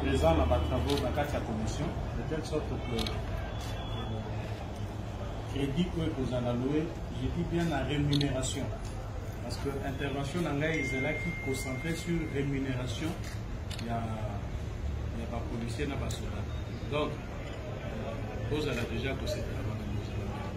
présent na ba travaux na kati ya commission de telle sorte que euh, crédit oyo ekozala loue je dis bien na rémunération parce que intervention na ngai ezalaki concentré sur rémunération ya ya bapolicier na basoda donc euh, bozala déjà kosetela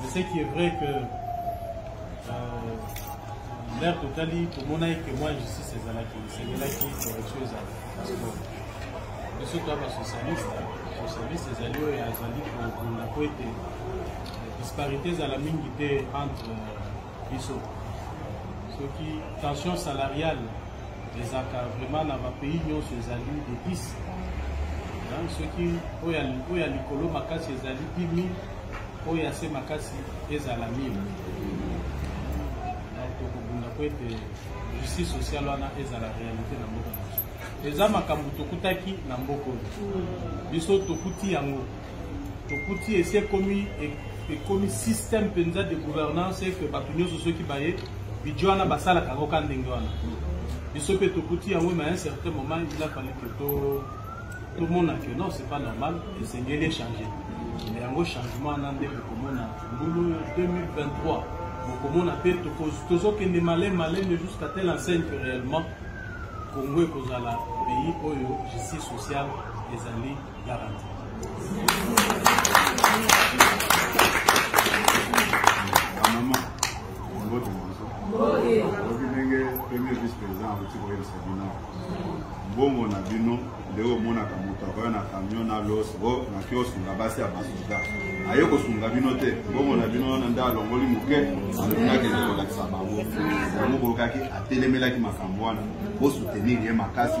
Mais ce qui est vrai que euh, l'ère totali tomonaki que moi justice ezalaki esengelaki correction ezala parce que biso toya basocialiste socialiste ezali oyo azali kobunda mpo ete disparité ezala mingi te entre biso soki tension salariale ezalaka vraiment na bapays nyonso ezali de 10 soki oyo ya likolo makasi ezali 10 000 oyo ya se makasi ezala mine donc tokobunda mpo ete justice sociale wana ezala réalité na mboka na biso eza makambo tokutaki na mboka oyo biso tokuti yango tokuti esi ekomi ekomi système mpenza de gouvernance eke bato nyonso soki baye bidjo wana basalaka yango ka ndenge wana biso mpe tokuti yango na un certain moment il a fallu que to tomona que non c'est pas normal esengeli echange na yango changement wana nde bokomona mbulu 2023 bokomona mpe tozokende male malene jusqu'à telle enseigne que réellement congo ekozala pays oyo justice sociale ezali garanti bamama mbote moso oyebi ndenge premier vice président akoki koyebisa bino mbongo na bino nde omonaka moto akoya na camion na los o naki osunga basi ya basoda aye kosunga bino te mbongo na bino wana nde alongoli moke alongakende kolakisa bango yango bolukaki atelemelaki makambo wana bosutenir ye makasi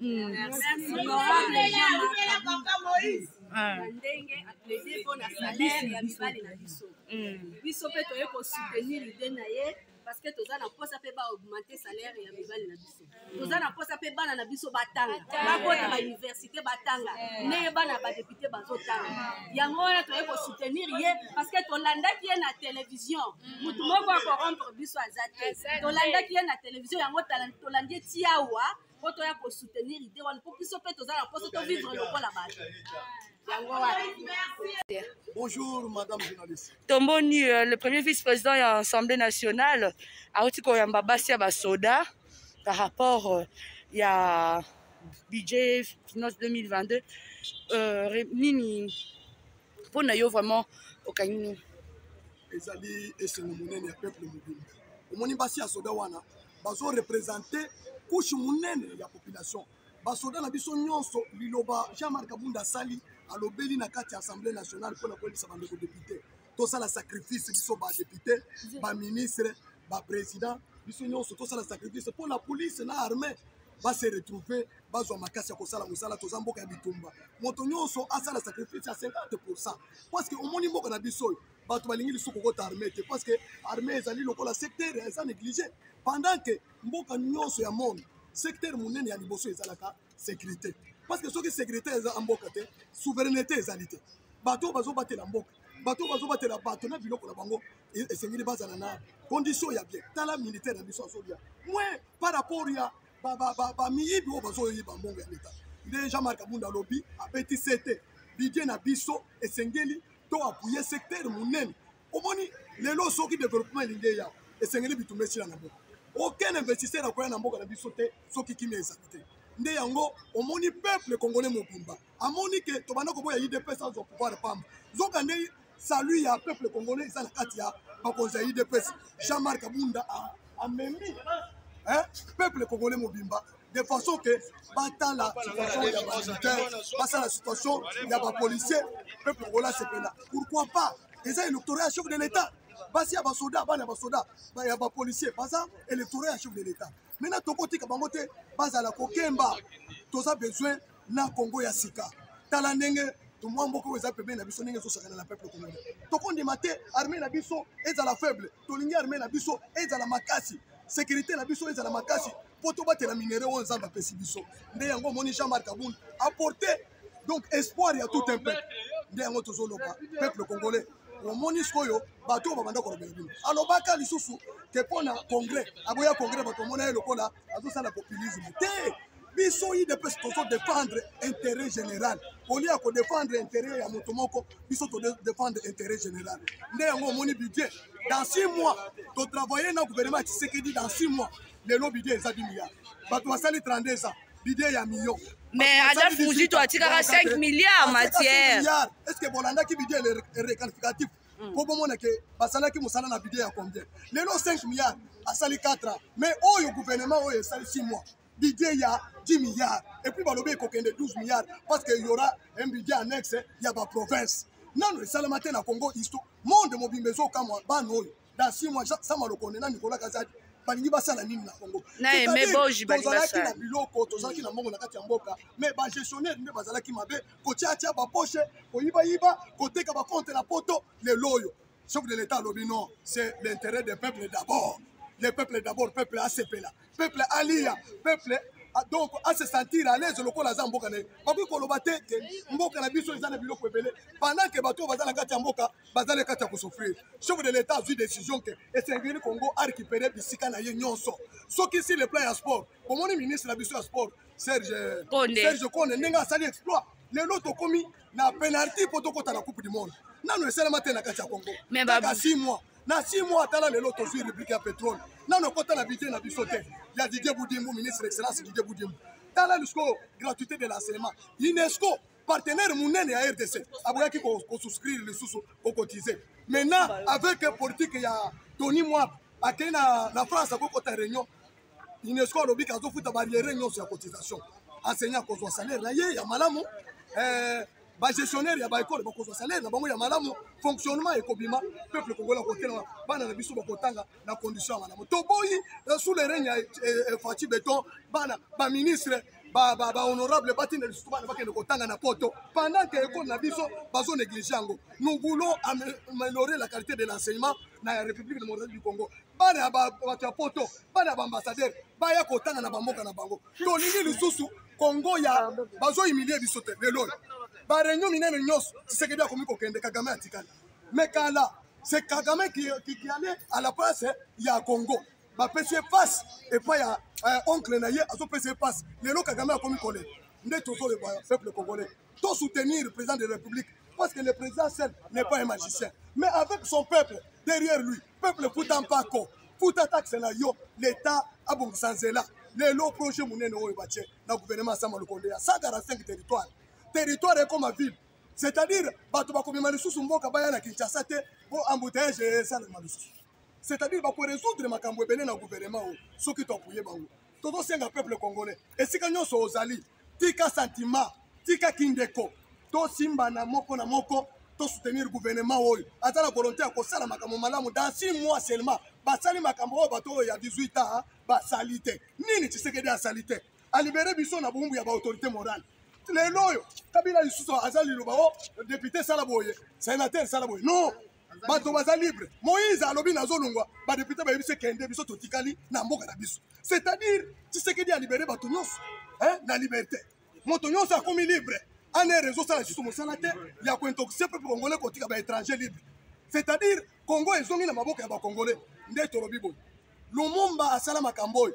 Mm. Ah. ndenge aplaide mpo na salaire ya mibali na biso mm. biso mpe toye kosoutenir ide na ye parce que toza na mposa mpe baaugmente salaire ya mibali na biso toza na mposa mpe bana na biso batanga bakota bauniversité batanga ndenge bana ya badepute bazotanga yango wana toye kosoutenir ye parce que tolandaki ye na télévision motu moko akorompre biso aza te tolandaki ye na télévision yango tolandi ye tiawa mpo toya kosoutenir ide wana mpo biso mpe toza na mposo tovivre lokola bato yango wana Bonjour, madame journaliste. Tomboni, euh, le premier vice-président ya Assemblée nationale, auti koyamba basi ya basoda par rapport euh, ya budget finance 2022 euh, nini mpo na yo vraiment okangi nini ezali esengo monene ya peuple mobimba omoni basi ya soda wana bazo represente kushe monene ya population basoda na biso nyonso liloba jean marc abunda asali alobeli na kati ya assemblée nationale mpo na koyebisa bandeko depute tosala sacrifice biso badepute baministre baprésident biso nyonso tosala sacrifice mpo na police na armée base retrouve bazwa makasi ya kosala mosala toza mboka ya bitumba moto nyonso asala sacrifice ya 50 pourcent parceke omoni mboka na biso oyo bato balingi lisusu kokota armée te parce que armée ezali lokola secteur eza négligé pendant que mboka nyonso ya monde secteur monene ya liboso ezalaka sécurité parce que soki sécurité eza ya mboka te souveraineté ezali te bato oyo bazobatela mboka bato oyo bazobatela bato na biloko na bango e-, esengeli bazala na condition ya bien tala militaire na biso azolia moins par rapport ya bamiyibi oyo bazoyiba mbongo ya leta nde jean marc abunda alobi abeti sete bidie na biso esengeli to apuye secteur monene omoni lelo soki developpement elingi eya esengeli bitumba esila na mboka aucun investisseur akoya na mboka na biso te soki kimia ezali te nde yango omoni peuple congolais mobimba amoni ke tobanda koboya idps azwa pouvoir pamba nzoka nde salut ya peuple congolais eza na kati ya bakonzi ya idps jean marc abunda amemi peuple congolais mobimba de façon que batala situation ya bamilitaire basala situation ya bapolicier peuple congolais asepela pourquoi pas eza électorat ya chef de l'état basi ya basoda bana ya basoda ya bapolicier baza électorat ya chef de l'état maintenant tokotika bango te bazala kokemba toza besoin na congo ya sika tala ndenge tomwa mboka oyo eza pembeni na biso ndenge ezosakana na peuple congolais tokondima te armée na biso ezala faible tolingi armée na biso ezala makasi sécurité na biso ezala makasi mpo tobatela minere oyo nzambe apesi biso nde yango omoni jean marc abund aporte donc espoir ya tout un peuple nde yango tozoloba peuple congolais omoni sikoyo bato oyo babanda kolobela bino alobaka lisusu ke mpo na congrès aboya congrès bato omona ye lokola azosala populisme te biso udps tozo défendre intérêt général olie ya kodéfendre intérêt ya moto moko biso todéfendre intérêt général nde yango omoni budget dans six mois totravaille na gouvernement ya tshisekedi dans six mois lelo budget eza bimiya bato basali 32 ans bide ya million mais ada fungito atikaka 5 milliard matière est ce que bolandaki bide requalificatif Mm. mpo bomona ke basalaki mosala na bide ya combien lelo 5 milliard asali 4 ans mais oyo gouvernement oyo esali 6 mois budget ya 10 milliards epuis balobi ekokende 12 milliards parce que yaura un budget annexe ya baprovince nano esalama te na congo histo monde mobimba ezokamwa bana oyo dans six mois sama lokonde na nicolas kazadi balingi basala nini na congo tozalaki na biloko tozalaki na mbongo na kati ya mboka mais bagestionnaire nde bazalaki mabe kotiatia baposhe koyibayiba koteka bakonte na poto lelo oyo chef de l'état alobi non c'est l'intérêt des peuples d'abord le peuple d'abord peuple asepela peuple aliya peuple Ah, donc à se sentir à l'aise lokola aza mboka na ye bakoki koloba te te mboka na biso eza na biloko ebele pendant ke bato oyo baza na kati ya mboka bazali kati ya kosofrir chef de l'état azwi décision ke esengeli congo arécupere bisika na ye nyonso soki si le plan ya sport bomoni ministre na biso ya sport serge serge konde ndenge asali exploit lelo tokomi na penalty mpo tokɔta na coupe du monde nano esalama te na kati ya congo kaka 6 mois na 6 mois atala lelo tozwi rubrike ya petrole nano ekɔta na budget na biso te ya didie budimbu ministre excellence didie budimbu tala lisiko gratuité de l'enseignement unesco partenaire monene ya rdc aboyaki kosouscrire lisusu kokotize maintenant avec politique ya tony mwab akei na, na france akokota réunion unesco alobi ke azofuta barriere nyonso ya cotisation enseignant akozwa salaire na ye ya malamu eh, bagestionnaire ya baekole bakozwa salaire na bango ya malamu fonctionnement ekobima peuple kongola kotelama bana na biso bakotanga na condition ya malamu toboyi euh, sous le règne ya euh, euh, faci beton bana baministre bahonorable batinda lisusu bana bakende kotanga na poto pendant ke ekole na biso bazo néglige yango nous voulons améliorer la qualité de l'enseignement na république démocratique du congo bana ya bato ya poto bana ya baambassadeur baya kotanga na bamboka na bango tolingi lisusu kongo ya bazohumilie biso te lelo oyo bareunion minene nyonso tisekedi akomi kokende kagame atikali me kala c'est kagame qui, qui, qui allait à la place ya congo bapesi ye passe epai ya euh, oncle na ye azopesa ye passe lelo kagame akomi kolela nde tozoloba peuple congolais to soutenir président de la république parce que le président seul n'est pas un magicien mais avec son peuple derrière lui peuple futa mpako futa taxe na yo l'état abongisa nzela lelo projet monene oyo batie na gouvernement asama lokonde ya 145 territoire territoire ekoma ville c'est-à-dire bato bakomema lisusu mboka baya na kinshasa te mpo embouteillage esalema lisusu c'est-à-dire bakoresoudre makambo ebele na gouvernement oyo soki toapuye bango tozosenga peuple congolais esika nyonso ozali tika sentiment tika kindeko tosimbana moko na moko tosoutenir gouvernement oyo aza na volonté ya kosala makambo malamu dans six mois seulement basali makambo oyo bato oyo ya 18 ans basali te nini tshisekedi asali te alibere biso na boumbu ya baautorité morale lelo oyo kabila lisusu aza liloba o oh, depute sala boye sénateur sala boye non bato baza libre moïse alobi nazolongwa badepute bayebisi kende biso totikali na mboka na biso c'est-à-dire tisekedi alibere bato nyonso na liberté moto nyonso akomi libre ane réseau sala lisusu mosala te ya kointoxie mpe congolais kotika baétranger libre c'est-à-dire congo ezongi na maboko ya bacongolais nde tolobi boye lumumba asala makambo oyo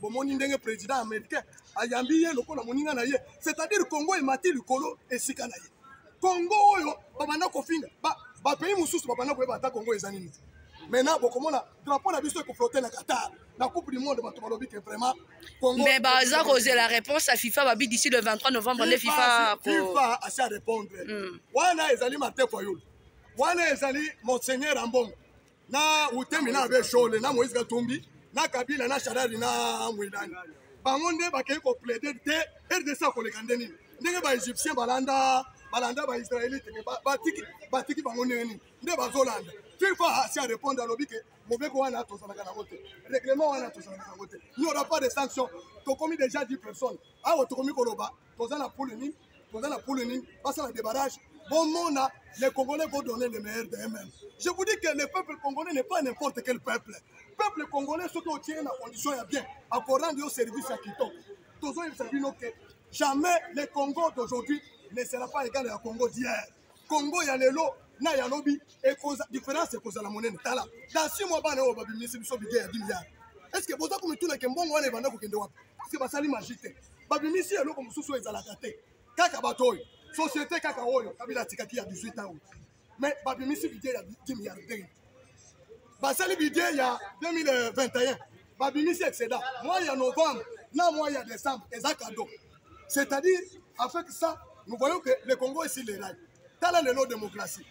bomoni ndenge président américain ayambi ye lokola moninga na ye c'est-à-dire congo emati likolo esika na ye congo oyo babanda kofinga bapays mosusu babanda koyeba ata congo eza nini maintenant bokomona drapeau na biso ekoflote na qatar na coupe du monde bato balobi ke vraiment mais baza kozela réponse ya fifa babi d'ici le 23 novembre nde fifa fifa asi arépondre hmm. wana ezali martin fayulu wana ezali monseigneur ambongo na utemi na abe shole na moïse katumbi na kabila na sharari na mwelani bango nde bakei koplaide te rdc akoleka nde nini ndenge baegyptien balanda balanda baisraelite me batiki batiki bango ndenge nini nde bazolanda fifa asi arépondre alobi ke mobeko wana tozalaka nango te règlement wana tozalaka nango te il n'y aura pas de sanction tokomi déjà 10 personnes awa tokomi koloba toza na pole nini toza na pule nini basala débarrage bomona les congolais vont donner le meilleur de eux-mêmes je vous dis que le peuple congolais n'est pas n'importe quel peuple peuple congolais soki otie na condition ya bien akorendre yo service ya kitoko tozoyebisa bino ke jamais le congo d'aujourd'hui ne sera pas égal ya congo d'hier congo ya lelo na ya lobi différence ekozala monene tala dasi mwa bana oyo babimisi biso bige ya 10 milliard est ce que boza komitunake mbongo wana ebanda kokende wapi parce que basali magie te babimisi eloko mosusu oyo ezalaka te kaka bato oyo société kaka oyo kabila atikaki ya 18 ans oyo mais babimisi bidie ya 10 milliardaire basali bidie ya 2021 babimisi excédent mois ya novembre na mois ya décembre eza cadeau c'est-à-dire avec ça nous voyons que le congo esi lerai tala lelo démocratie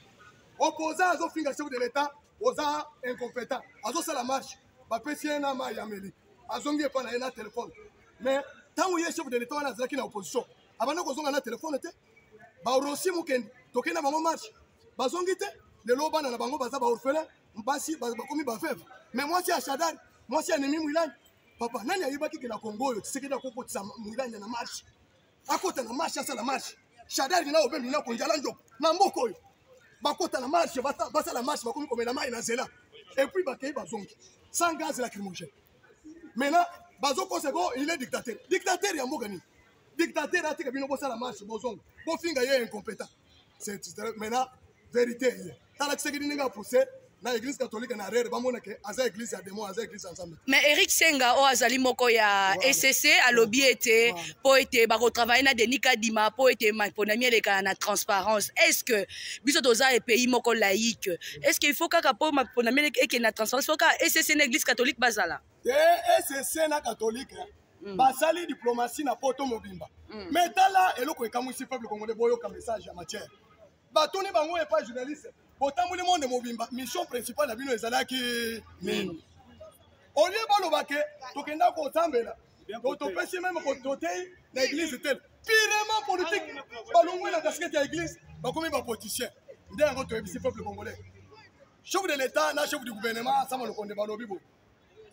opposant azofinga chef de l'état oza incompétent azosala marche bapesi ye na mai ya meli azongi epai na ye na telefone mais ntango ye chef de l'état wana azalaki na opposition abanda kozonga na telefone te barosi mokende tokei na bango marche bazongi te lelo bana na bango baza baorphelin basi bakomi baveve mais mwasi ya shadari mwasi ya nemi mwilani papa nani ayebaki ke na kongo oyo tisekedi akokotisa mwilani na marche akota na marche asala marche shadari na obembi na konjala njoko na mboka oyo bakota na marche basala marche bakomi komela mai na nzela epuis bakei bazongi sans gaz lacrymogène maintenant bazokosa ko il est dictateur dictateur ya mboka nini dictateur atika bino bosala marche bozonga bofinga ye incompétent maintenant verite ye tala tshisekedi ndenge apousse na église catholique na rere bamona ke aza église ya démon aza église ya nzambe mais eric senga oyo azali moko ya ecc alobi ete mpo ete bakotravaille na denis kadima mpo ete maponami elekana na transparence est ce que biso toza epays moko laïque est ce que il faut kaka mpo maponami ekende na transparence fo kaka ecc na église catholique bazala te ecc na catholique Mm. basali diplomatie na poto mobimba mm. mais tala eloko ekamwisi peuple congolais boyoka message ya matière batuni bango epa journaliste botamboli monde mobimba mission principale na bino ezalaki nini olie baloba ke tokenda kosambela topesi meme toteyi na eglise te pirement politique balongwe na kaskete ya eglise bakomi bapoliticien nde yango toyebisi peuple congolais chef de l'état na chef du gouvernement sama lokonde balobi boye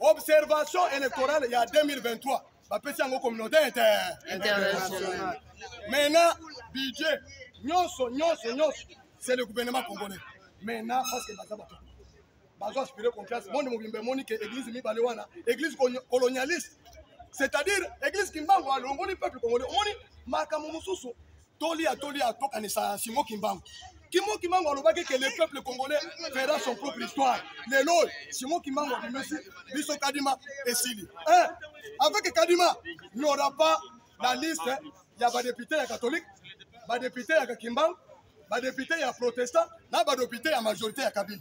observation électorale ya 2023 bapesi yango communauté internationale maintenant budget nyonso nyonso nyonso c'est le gouvernement congolais maintenant parce que baza bato bazo aspire confiance monde mobimba emoni ke église mibale wana église colonialiste c'est-à-dire église kimbangu alongoli peuple congolais omoni makambo mosusu toli ya toli ya tokanisa simo kimbangu kimo kimbangu alobaki ke le peuple congolais fera son propre histoire lelo oyo simo kimbangu abimisi biso kadima esili eh, avec kadima n'aura pas la liste ya badepute ya catholique badepute ya kakimbangu badepute ya protestant na badepute ya majorité ya kabila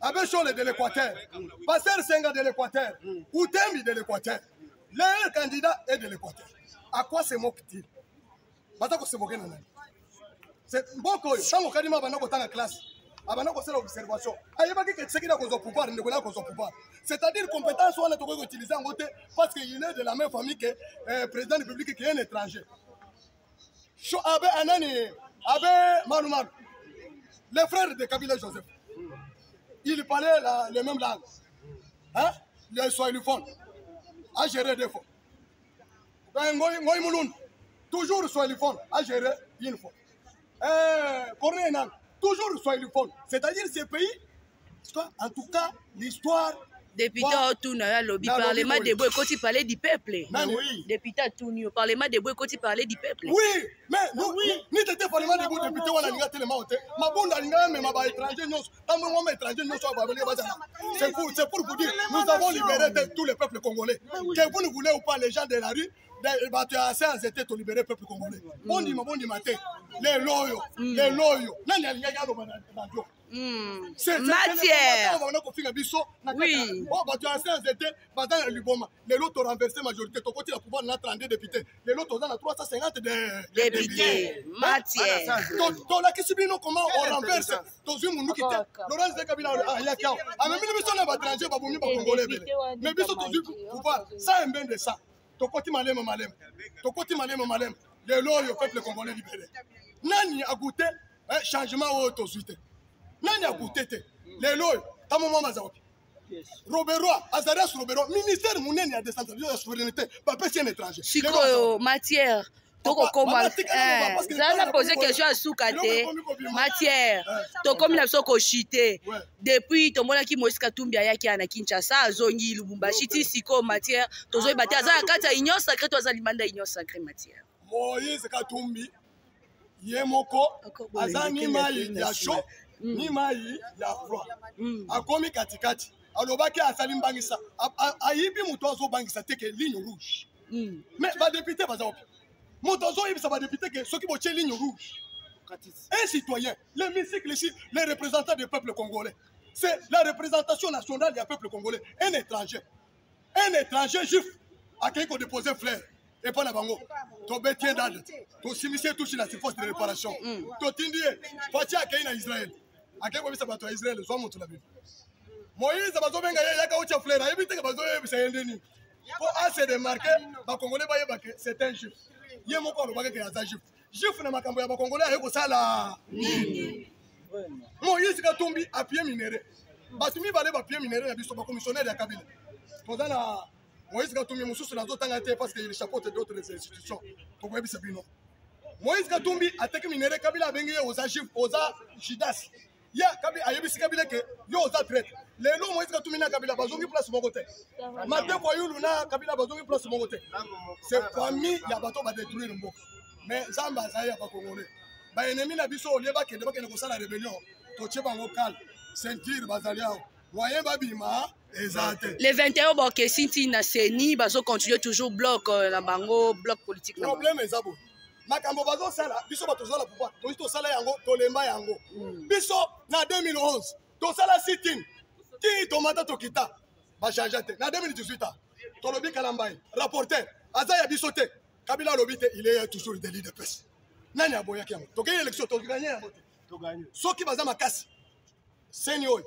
Abbé Shole de l'Équateur, Pasteur Senga de l'Équateur, Utemi de l'Équateur, le candidat est de l'Équateur. À quoi se moque-t-il Baza ko se moquer na nani Mboko oyo, tango kadima banda kotanga classe, abanda kosala observation ayebaki ke tshisekedi akozwa pouvoir ndeko na akozwa pouvoir c'est-à-dire compétence wana tokoki koutilize yango te parce que il est de la même famille que euh, président république qui est un étranger so abe anani abe manu manu les frères de kabila joseph ils parlaient la, les mêmes langues hein les soilifone a gérer des fois ben ngoy ngoy mulun toujours soilifone a gérer une fois eh corneille nan toujours soilifone c'est-à-dire ces pays en tout cas l'histoire député otuna yo alobi parlement debo ekoti parler du peuple député atuni yo parlement debo ekoti parler du peuple ni tete parlement debo député wana alinga telema o te mabunda alinga amema ba étranger nyonso ntango mwa étranger nyonso babele bazala c'est pour c'est pour vous dire nous avons libéré tous les peuples congolais que vous ne voulez ou pas les gens de la rue bato ya science ete tolibere peuple congolais bondima bondima te lelo oyo lelo oyo nani alingaki aloba na radio Hmm. matière bana kofinga biso na kati oyo oh, bato ya ancien nzete baza na liboma lelo torenverse majorité tokoti na pouvoir na 32 député lelo toza na 350 député matière tolakisi bino comment orenverse tozwi monduki te laurence de kabila ayaki awa amemili biso na batranger babomi bakongole ebele mais biso tozwi pouvoir sa embende sa tokoti malema malema tokoti malema malema lelo oyo peuple congolais libele nani agoute eh, changement oyo tozwi te nani akute te lelo oyo ntango mwa maza wapi roberois azarias roberois ministère monene ya décentralisation ya souveraineté bapesi un étranger sikoyo matière tokokoma eh, zala na pose question ya suka te matière eh. tokomi na biso koshite depuis tomonaki moïse katumbi ayaki ya na kinshasa azongi lubumbashi ti sikoyo matière tozoyeba te aza na kati ya union sacré to aza limanda union sacré matière moïse katumbi ye moko aza ni mai ya chaud mm. ni mai ya froid mm. akomi katikati alobaki asali mbangisa ayibi moto azobangisa te ke ligne rouge mm. mais badepute baza wapi moto azoyebisa badepute ke soki botie ligne rouge un citoyen le musicle ici les représentants du peuple congolais c'est la représentation nationale ya peuple congolais un étranger un étranger juif akei kodepose flaire epai na bango tobeti ye dade tosimisi ye tushi na surface de réparation mm. totindi ye faci akei na israel akei koyebisa bato ya israel zwa moto na bino moïse bazobenga ye yaka otya flaire ayebi teke bazoyebisa ye nde nini mpo ase demarke bakongole bayebake c'est un juif ye moko alobaka ke aza juif Juif na makambo ya bakongolais aye kosala nini? Moïse Katumbi appuie minere. Bato mibale bapie minere na biso bakomissionnaire ya Kabila. Toza na Moïse Katumbi mosusu nazotanga te parce que il chapeaute d'autres institutions. Tokoyebisa bino. Moïse Katumbi ateki minere Kabila abengi ye oza juif, oza Judas. ye kabila ayebisi kabila ke yo oza traite lelo moïse katumi na kabila bazongi place moko te mateko ayulu na kabila bazongi place moko te se famille ya bato badetruire mboka mais nzambe azali ya bakongole baennemi na biso olie bakende bakende kosala rebellion totie bango kale ceinture bazali awa moyen babima le 21 bakesi nti na ceni bazocontinue toujours bloc euh, na bango bloc politique na problème eza boye makambo bazosala biso bato tozala pouvoir toyi tosala yango tolemba yango hmm. biso na 2011 tosala sitin ti tomata tokita bachangea te na 2018 a tolobi kalambai rapporteur aza ya biso te kabila alobi te il est toujours de leader pese nani aboyaki yango tokei élection toganye yango te soki baza makasi seni oyo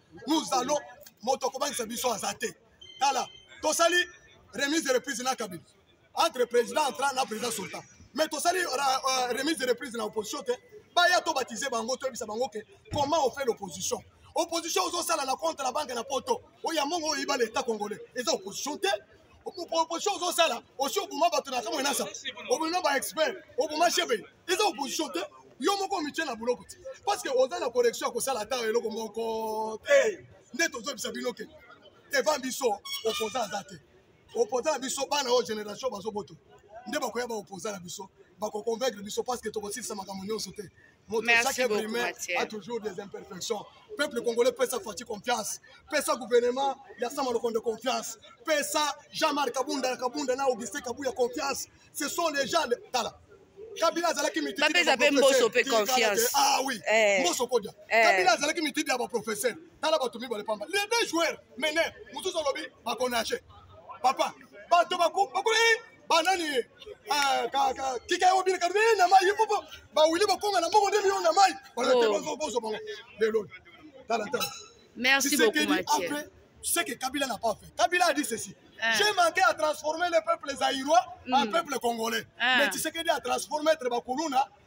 nous allons moto akobangisa biso aza te tala tosali remise de reprise na kabila entre président entra na président sultan mais tosali euh, euh, remise de reprise na opposition te baya tobatize bango toyebisa bango ke comment on fait l'opposition opposition ozosala na compte na banque na poto oyo ya mongo oyo iba leta congolais eza opposition te opposition ozosala osi oboma bato na kamwe nasa obino ba expert oboma cheve eza opposition te yo moko omitye na boloko te parce que oza na correction ya kosala ata eloko moko te nde tozobisa bino ke devant biso opposant aza te opposant na biso bana oyo génération bazoboto nde bakoya baopposant na biso bakoconvaincre biso parce que tokosilisa makambo nyonso te moto chaque imprime a toujours des imperfections peuple congolais pesa fati confiance pesa gouvernement ya sama lokondo confiance pesa jean marc kabunda kabunda na augustin kabuya confiance ce sont les gens tala kabila azalaki mitibapesa mpe mboso mpe confiance ah oui eh. mboso kodia eh. kabila azalaki mitidi ya baprofesseur tala bato mibale pamba les deux joueurs mene mosusu alobi bakonage papa bato bakuna banani ah, kika yango bina kati eh, na mai ye popo bawili bakonga na mbongo nde liyo na mai oh. bozo bango lelo tala tala merci beaucoup matière ce que kabila n'a pas fait kabila a dit ceci ah. J'ai manqué à transformer les peuples zaïrois mm. en peuples congolais. Ah. Mais Tshisekedi a transformé Bakuluna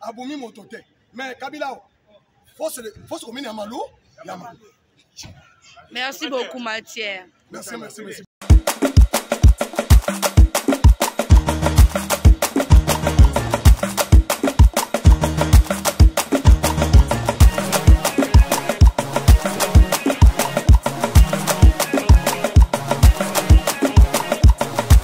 abomi moto te mais kabila awa fausse commune ya malu ya malu merci beaucoup matière merci merci merci